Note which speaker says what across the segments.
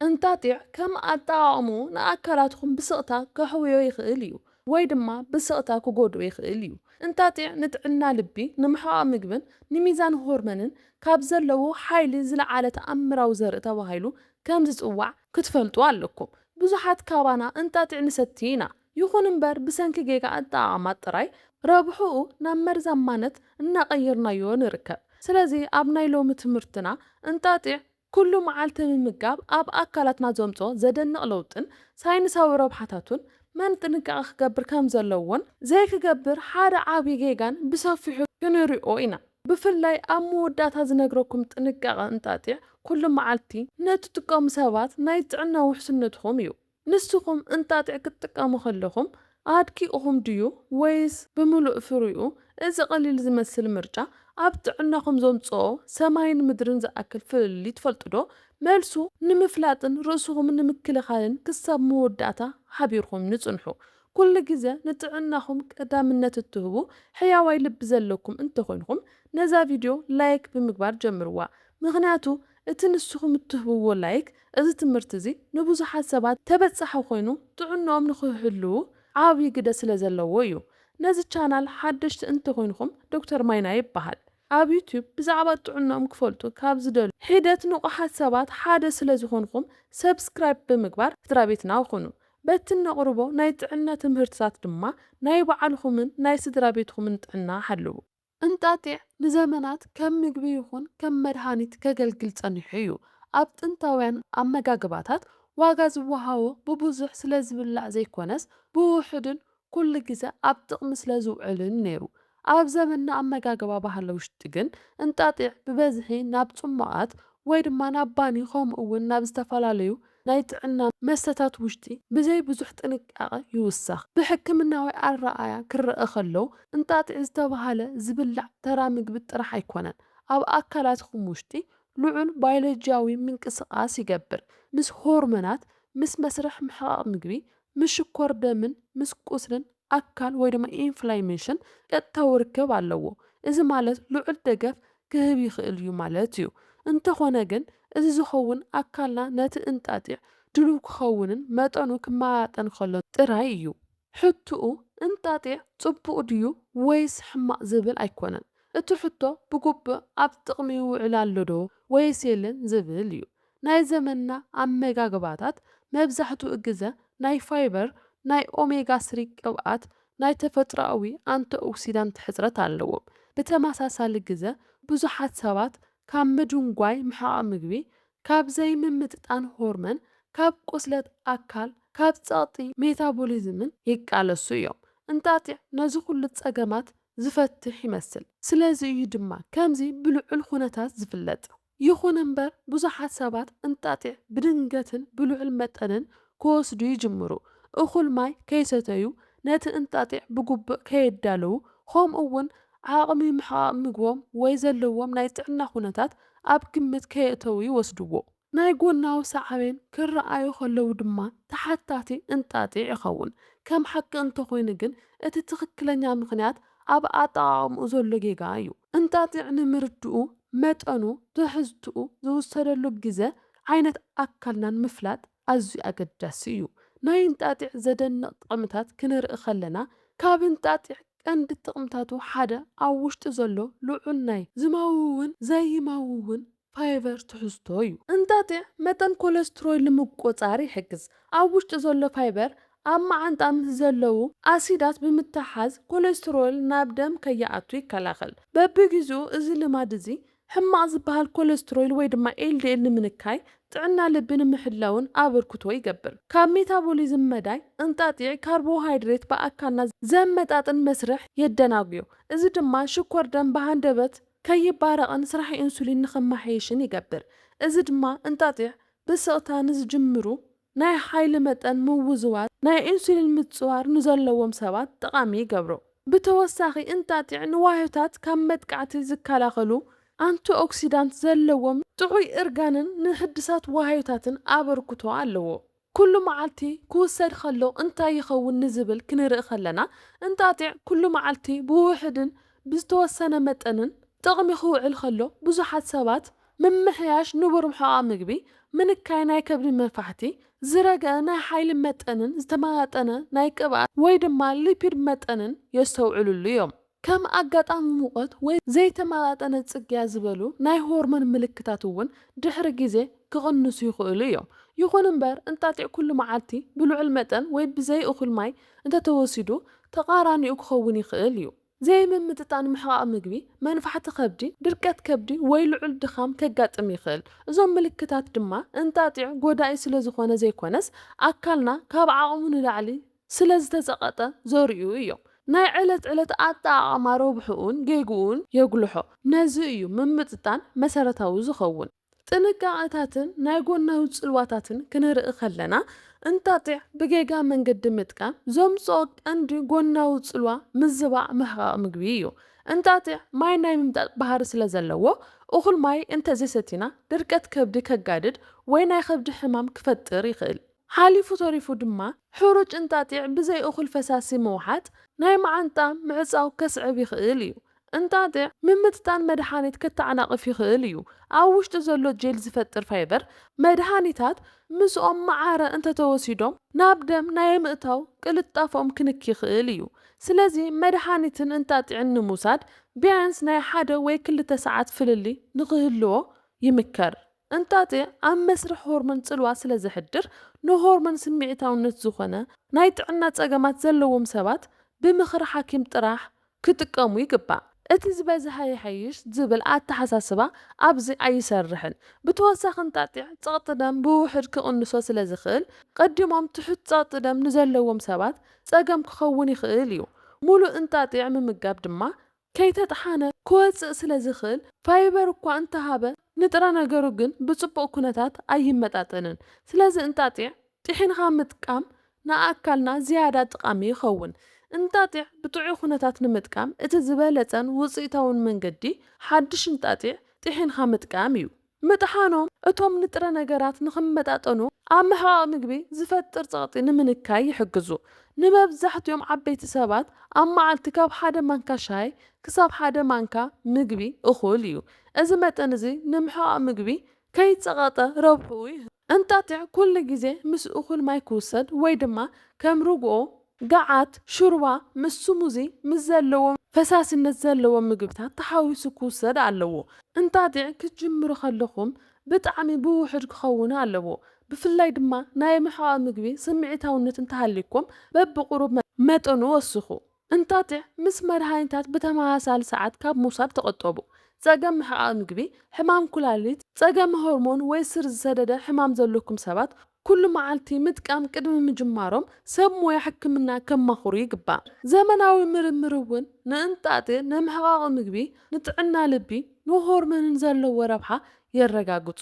Speaker 1: እንጣጢዕ ከም ኣጠቓቕምኡ ንኣካላትኩም ብስቕታ ከሕውዮ ይኽእል እዩ ወይ ድማ ብስቕታ ክጎድኦ ይኽእል እዩ። እንጣጢዕ ንጥዕና ልቢ፣ ንምሕቓቕ ምግብን ንሚዛን ሆርመንን ካብ ዘለዎ ሓይሊ ዝለዓለ ተኣምራዊ ዘርኢ ተባሂሉ ከም ዝጽዋዕ ክትፈልጡ ኣለኩም። ብዙሓት ካባና እንጣጢዕ ንሰቲ ኢና፣ ይኹን እምበር ብሰንኪ ጌጋ ኣጠቓቕማ ጥራይ ረብሕኡ ናብ መርዛማነት እናቐየርናዮ ንርከብ። ስለዚ ኣብ ናይ ሎሚ ትምህርትና እንጣጢዕ ኩሉ መዓልቲ ምምጋብ ኣብ ኣካላትና ዘምጽኦ ዘደንቕ ለውጥን ሳይንሳዊ ረብሓታቱን፣ መን ጥንቃቐ ክገብር ከም ዘለዎን ዘይክገብር ሓደ ዓቢ ጌጋን ብሰፊሑ ክንሪኦ ኢና። ብፍላይ ኣብ መወዳእታ ዝነግረኩም ጥንቃቐ እንጣጢዕ ኩሉ መዓልቲ ንእትጥቀሙ ሰባት ናይ ጥዕና ውሕስነትኩም እዩ። ንስኹም እንጣጢዕ ክትጥቀሙ ከለኹም ኣድኪኡኹም ድዩ ወይስ ብምሉእ ፍሪኡ? እዚ ቀሊል ዝመስል ምርጫ ኣብ ጥዕናኹም ዘምጽኦ ሰማይን ምድርን ዝኣክል ፍልልይ ትፈልጡዶ? መልሱ ንምፍላጥን ርእስኹም ንምክልኻልን ክሳብ መወዳእታ ሓቢርኩም ንጽንሑ። ኩሉ ግዘ ንጥዕናኹም ቀዳምነት እትህቡ ሕያዋይ ልቢ ዘለኩም እንተኾይንኩም ነዛ ቪድዮ ላይክ ብምግባር ጀምርዋ ምኽንያቱ እቲ ንስኹም እትህብዎ ላይክ እዚ ትምህርቲ እዚ ንብዙሓት ሰባት ተበጻሒ ኮይኑ ጥዕንኦም ንኽህልው ዓቢ ግደ ስለ ዘለዎ እዩ። ነዚ ቻናል ሓደሽቲ እንተ ኹይንኹም ዶክተር ማይና ይበሃል። ኣብ ዩቱብ ብዛዕባ ጥዕንኦም ክፈልጡ ካብ ዝደልዩ ሒደት ንቑሓት ሰባት ሓደ ስለ ዝኾንኹም ሰብስክራይብ ብምግባር ስድራቤትና ኩኑ። በቲ እነቕርቦ ናይ ጥዕና ትምህርትታት ድማ ናይ ባዕልኹምን ናይ ስድራቤትኹምን ጥዕና ሓልው። እንጣጢዕ ንዘመናት ከም ምግቢ ይኹን ከም መድሃኒት ከገልግል ጸኒሑ እዩ። ኣብ ጥንታውያን ኣመጋግባታት ዋጋ ዝወሃቦ ብብዙሕ ስለ ዝብላዕ ዘይኮነስ ብውሑድን ኩሉ ግዘ ኣብ ጥቕሚ ስለ ዝውዕልን ነይሩ። ኣብ ዘመንና ኣመጋግባ ባህሊ ውሽጢ ግን እንጣጢዕ ብበዝሒ ናብ ጽሟቓት ወይ ድማ ናብ ባኒ ከምኡ እውን ናብ ዝተፈላለዩ ናይ ጥዕና መስተታት ውሽጢ ብዘይ ብዙሕ ጥንቃቐ ይውሰኽ። ብሕክምናዊ ኣረኣእያ ክረኣ ከሎ፣ እንጣጢዕ ዝተበሃለ ዝብላዕ ተራ ምግቢ ጥራሕ ኣይኮነን። ኣብ ኣካላትኩም ውሽጢ ልዑል ባዮሎጂያዊ ምንቅስቓስ ይገብር፣ ምስ ሆርሞናት፣ ምስ መስርሕ ምሕቓቕ ምግቢ፣ ምስ ሽኮር ደምን ምስ ቁስልን ኣካል ወይ ድማ ኢንፍላሜሽን ቀጥታዊ ርክብ ኣለዎ፣ እዚ ማለት ልዑል ደገፍ ክህብ ይኽእል እዩ ማለት እዩ። እንተኾነ ግን እዚ ዝኸውን ኣካልና ነቲ እንጣጢዕ ድሉው ክኸውንን መጠኑ ክመጣጠን ከሎን ጥራይ እዩ። ሕቱኡ እንጣጢዕ ጽቡቕ ድዩ ወይስ ሕማቕ ዝብል ኣይኮነን፣ እቲ ሕቶ ብግቡእ ኣብ ጥቕሚ ይውዕል ኣሎዶ ወይስ የለን ዝብል እዩ። ናይ ዘመንና ኣመጋግባታት መብዛሕትኡ ግዘ ናይ ፋይበር፣ ናይ ኦሜጋ ስሪ ቅብኣት፣ ናይ ተፈጥሮኣዊ ኣንቲኦክሲዳንት ሕፅረት ኣለዎም። ብተመሳሳሊ ግዘ ብዙሓት ሰባት ካብ ምድንጓይ ምሕቓቕ ምግቢ፣ ካብ ዘይምምጥጣን ሆርመን፣ ካብ ቁስለት ኣካል፣ ካብ ፀቕጢ ሜታቦሊዝምን ይቃለሱ እዮም። እንጣጢዕ ነዚ ኩሉ ፀገማት ዝፈትሕ ይመስል። ስለዚ እዩ ድማ ከምዚ ብልዑል ኹነታት ዝፍለጥ። ይኹን እምበር ብዙሓት ሰባት እንጣጢዕ ብድንገትን ብልዑል መጠንን ክወስዱ ይጅምሩ፣ እኹል ማይ ከይሰተዩ፣ ነቲ እንጣጢዕ ብግቡእ ከየዳለዉ፣ ከምኡ'ውን ዓቕሚ ምሕቓቕ ምግቦም ወይ ዘለዎም ናይ ጥዕና ኩነታት ኣብ ግምት ከየእተዉ ይወስድዎ። ናይ ጎናዊ ሳዕቤን ክረኣዩ ከለዉ ድማ ተሓታቲ እንጣጢዕ ይኸውን። ከም ሓቂ እንተኾይኑ ግን እቲ ትኽክለኛ ምኽንያት ኣብ ኣጠቓቕምኡ ዘሎ ጌጋ እዩ። እንጣጢዕ ንምርድኡ፣ መጠኑ፣ ትሕዝትኡ፣ ዝውሰደሉ ግዘ፣ ዓይነት ኣካልናን ምፍላጥ ኣዝዩ ኣገዳሲ እዩ። ናይ እንጣጢዕ ዘደንቕ ጥቕምታት ክነርኢ ከለና፣ ካብ እንጣጢዕ ቀንዲ ጥቕምታቱ ሓደ ኣብ ውሽጡ ዘሎ ልዑል ናይ ዝመውውን ዘይመውውን ፋይበር ትሕዝቶ እዩ። እንጣጢዕ መጠን ኮለስትሮይል ንምቁጽጻር ይሕግዝ። ኣብ ውሽጢ ዘሎ ፋይበር ኣብ መዓንጣ ምስ ዘለዉ ኣሲዳት ብምትሕሓዝ ኮለስትሮይል ናብ ደም ከይኣቱ ይከላኸል። በብግዜኡ እዚ ልማድ እዚ ሕማቕ ዝበሃል ኮለስትሮይል ወይ ድማ ኤልዲኤል ንምንካይ ጥዕና ልቢ ንምሕላውን ኣበርክቶ ይገብር። ካብ ሜታቦሊዝም መዳይ እንጣጢዕ ካርቦሃይድሬት ብኣካልና ዘመጣጥን መስርሕ የደናጉዮ። እዚ ድማ ሽኮር ደም ብሃንደበት ከይባረቕን ስራሕ ኢንሱሊን ንኽመሓየሽን ይገብር። እዚ ድማ እንጣጢዕ ብስቕታ ንዝጅምሩ ናይ ሓይሊ መጠን ምውዝዋዝ ናይ ኢንሱሊን ምጽዋር ንዘለዎም ሰባት ጠቓሚ ይገብሮ። ብተወሳኺ እንጣጢዕ ንዋህዮታት ካብ መጥቃዕቲ ዝከላኸሉ ኣንቲኦክሲዳንት ዘለዎም ጥዑይ እርጋንን ንሕድሳት ዋህዮታትን ኣበርክቶ ኣለዎ። ኩሉ መዓልቲ ክውሰድ ኸሎ እንታይ ይኸውን ንዝብል ክንርኢ ኸለና፣ እንጣጢዕ ኩሉ መዓልቲ ብውሑድን ብዝተወሰነ መጠንን ጥቕሚ ክውዕል ኸሎ፣ ብዙሓት ሰባት ምምሕያሽ ንቡር ሕቛ ምግቢ፣ ምንካይ ናይ ከብዲ መፋሕቲ፣ ዝረገ ናይ ሓይሊ መጠንን ዝተመጣጠነ ናይ ቅብኣት ወይ ድማ ሊፒድ መጠንን የስተውዕልሉ እዮም። ከም ኣጋጣሚ ሙቐት ወይ ዘይተመጣጠነ ጽግያት ዝበሉ ናይ ሆርሞን ምልክታት እውን ድሕሪ ግዜ ክቕንሱ ይኽእሉ እዮም። ይኹን እምበር፣ እንጣጢዕ ኩሉ መዓልቲ ብልዑል መጠን ወይ ብዘይ እኹል ማይ እንተተወሲዱ ተቓራኒኡ ክኸውን ይኽእል እዩ። ዘይምምጥጣን ምሕቓቕ ምግቢ፣ መንፋሕቲ ከብዲ፣ ድርቀት ከብዲ ወይ ልዑል ድኻም ከጋጥም ይኽእል። እዞም ምልክታት ድማ እንጣጢዕ ጎዳኢ ስለዝኾነ ዘይኮነስ ኣካልና ካብ ዓቕሙ ንላዕሊ ስለ ዝተጸቐጠ ዘርእዩ እዮም። ናይ ዕለት ዕለት ኣጠቓቕማ ረብሕኡን ጌግኡን የጉልሖ። ነዚ እዩ ምምጥጣን መሰረታዊ ዝኸውን። ጥንቃቐታትን ናይ ጎናዊ ጽልዋታትን ክንርኢ ከለና፣ እንጣጢዕ ብጌጋ መንገዲ ምጥቃም ዘምጽኦ ቀንዲ ጎናዊ ጽልዋ ምዝባዕ ምሕቓቕ ምግቢ እዩ። እንጣጢዕ ማይ ናይ ምምጣጥ ባህሪ ስለ ዘለዎ፣ እኹል ማይ እንተ ዘይሰቲና ድርቀት ከብዲ ከጋድድ ወይ ናይ ከብዲ ሕማም ክፈጥር ይኽእል። ሓሊፉ ተሪፉ ድማ ሕሩጭ እንጣጢዕ ብዘይ እኹል ፈሳሲ ምውሓጥ ናይ መዓንጣ ምዕጻው ከስዕብ ይኽእል እዩ። እንጣጢዕ ምምጥጣን መድሓኒት ከተዓናቕፍ ይኽእል እዩ። ኣብ ውሽጡ ዘሎ ጄል ዝፈጥር ፋይበር መድሃኒታት ምስኦም መዓረ እንተተወሲዶም ናብ ደም ናይ ምእታው ቅልጣፈኦም ክንኪ ይኽእል እዩ። ስለዚ መድሓኒትን እንጣጢዕን ንምውሳድ ቢያንስ ናይ ሓደ ወይ ክልተ ሰዓት ፍልልይ ንኽህልዎ ይምከር። እንታ'ቲ ኣብ መስርሕ ሆርሞን ጽልዋ ስለ ዘሕድር፣ ንሆርሞን ስምዒታውነት ዝኾነ ናይ ጥዕና ጸገማት ዘለዎም ሰባት ብምኽሪ ሓኪም ጥራሕ ክጥቀሙ ይግባእ። እቲ ዝበዝሐ ይሐይሽ ዝብል ኣተሓሳስባ ኣብዚ ኣይሰርሕን። ብተወሳኺ እንጣጢዕ ጸቕጢ ደም ብውሑድ ክቕንሶ ስለ ዝኽእል፣ ቀዲሞም ትሑት ጸቕጢ ደም ንዘለዎም ሰባት ጸገም ክኸውን ይኽእል እዩ። ሙሉእ እንጣጢዕ ምምጋብ ድማ ከይተጥሓነ ክወጽእ ስለ ዝኽእል፣ ፋይበር እኳ እንተሃበ ንጥረ ነገሩ ግን ብጽቡቕ ኩነታት ኣይመጣጠንን። ስለዚ እንጣጢዕ ጢሒንኻ ምጥቃም ንኣካልና ዝያዳ ጥቓሚ ይኸውን። እንጣጢዕ ብጥዑይ ኩነታት ንምጥቃም እቲ ዝበለጸን ውጽኢታውን መንገዲ ሓድሽ እንጣጢዕ ጢሒንኻ ምጥቃም እዩ። ምጥሓኖም እቶም ንጥረ ነገራት ንኽመጣጠኑ ኣብ ምሕቓቕ ምግቢ ዝፈጥር ጸቕጢ ንምንካይ ይሕግዙ። ንመብዛሕትኦም ዓበይቲ ሰባት ኣብ መዓልቲ ካብ ሓደ ማንካ ሻሂ ክሳብ ሓደ ማንካ ምግቢ እኹል እዩ። እዚ መጠን እዚ ንምሕቓቕ ምግቢ ከይጸቐጠ ረብሕኡ ይህብ። እንጣጢዕ ኩሉ ግዜ ምስ እኹል ማይ ክውሰድ ወይ ድማ ከም ርግኦ፣ ገዓት፣ ሽሩባ ምስ ስሙዚ ምስ ዘለዎ ፈሳሲነት ዘለዎ ምግብታት ተሓዊሱ ክውሰድ ኣለዎ። እንጣጢዕ ክትጅምሩ ከለኹም ብጣዕሚ ብውሑድ ክኸውን ኣለዎ። ብፍላይ ድማ ናይ ምሕቓቕ ምግቢ ስምዒታውነት እንተሃልዩኩም በብቑሩብ መጠኑ ወስኹ። እንታትዕ ምስ መድሃኒታት ብተመሳሳሊ ሰዓት ካብ ምውሳድ ተቘጠቡ። ጸገም ምሕቓቕ ምግቢ፣ ሕማም ኵላሊት፣ ጸገም ሆርሞን ወይ ስር ዝሰደደ ሕማም ዘሎኩም ሰባት ኵሉ መዓልቲ ምጥቃም ቅድሚ ምጅማሮም ሰብ ሞያ ሕክምና ከማኽሩ ይግባእ። ዘመናዊ ምርምር እውን ንእንጣጢዕ፣ ንምሕቓቕ ምግቢ፣ ንጥዕና ልቢ፣ ንሆርሞንን ዘለዎ ረብሓ የረጋግጹ።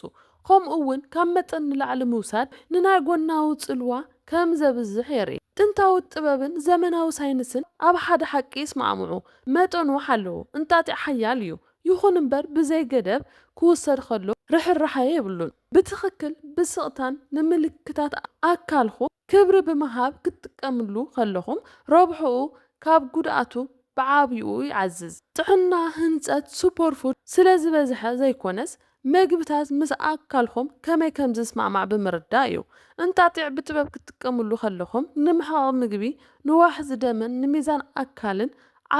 Speaker 1: ከምኡ እውን ካብ መጠን ንላዕሊ ምውሳድ ንናይ ጎናዊ ጽልዋ ከም ዘብዝሕ የርኢ። ጥንታዊ ጥበብን ዘመናዊ ሳይንስን ኣብ ሓደ ሓቂ ይስማዕምዑ፣ መጠኑ ሓለዎ እንጣጢዕ ሓያል እዩ፣ ይኹን እምበር ብዘይ ገደብ ክውሰድ ከሎ ርሕራሐ የብሉን። ብትኽክል ብስቕታን ንምልክታት ኣካልኹ። ክብሪ ብምሃብ ክትጥቀምሉ ከለኹም ረብሕኡ ካብ ጉድኣቱ ብዓብይኡ ይዓዝዝ። ጥዕና ህንፀት ሱፐርፉድ ስለዝበዝሐ ዘይኮነስ መግብታት ምስ ኣካልኹም ከመይ ከምዝስማዕማዕ ብምርዳእ እዩ። እንጣጢዕ ብጥበብ ክትጥቀምሉ ከለኹም ንምሕቓቕ ምግቢ፣ ንዋሕዚ ደምን ንሚዛን ኣካልን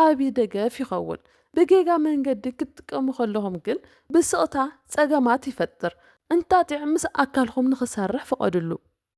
Speaker 1: ዓብይ ደገፍ ይኸውን። ብጌጋ መንገዲ ክትጥቀሙ ከለኹም ግን ብስቕታ ፀገማት ይፈጥር። እንጣጢዕ ምስ ኣካልኹም ንኽሰርሕ ፍቐድሉ።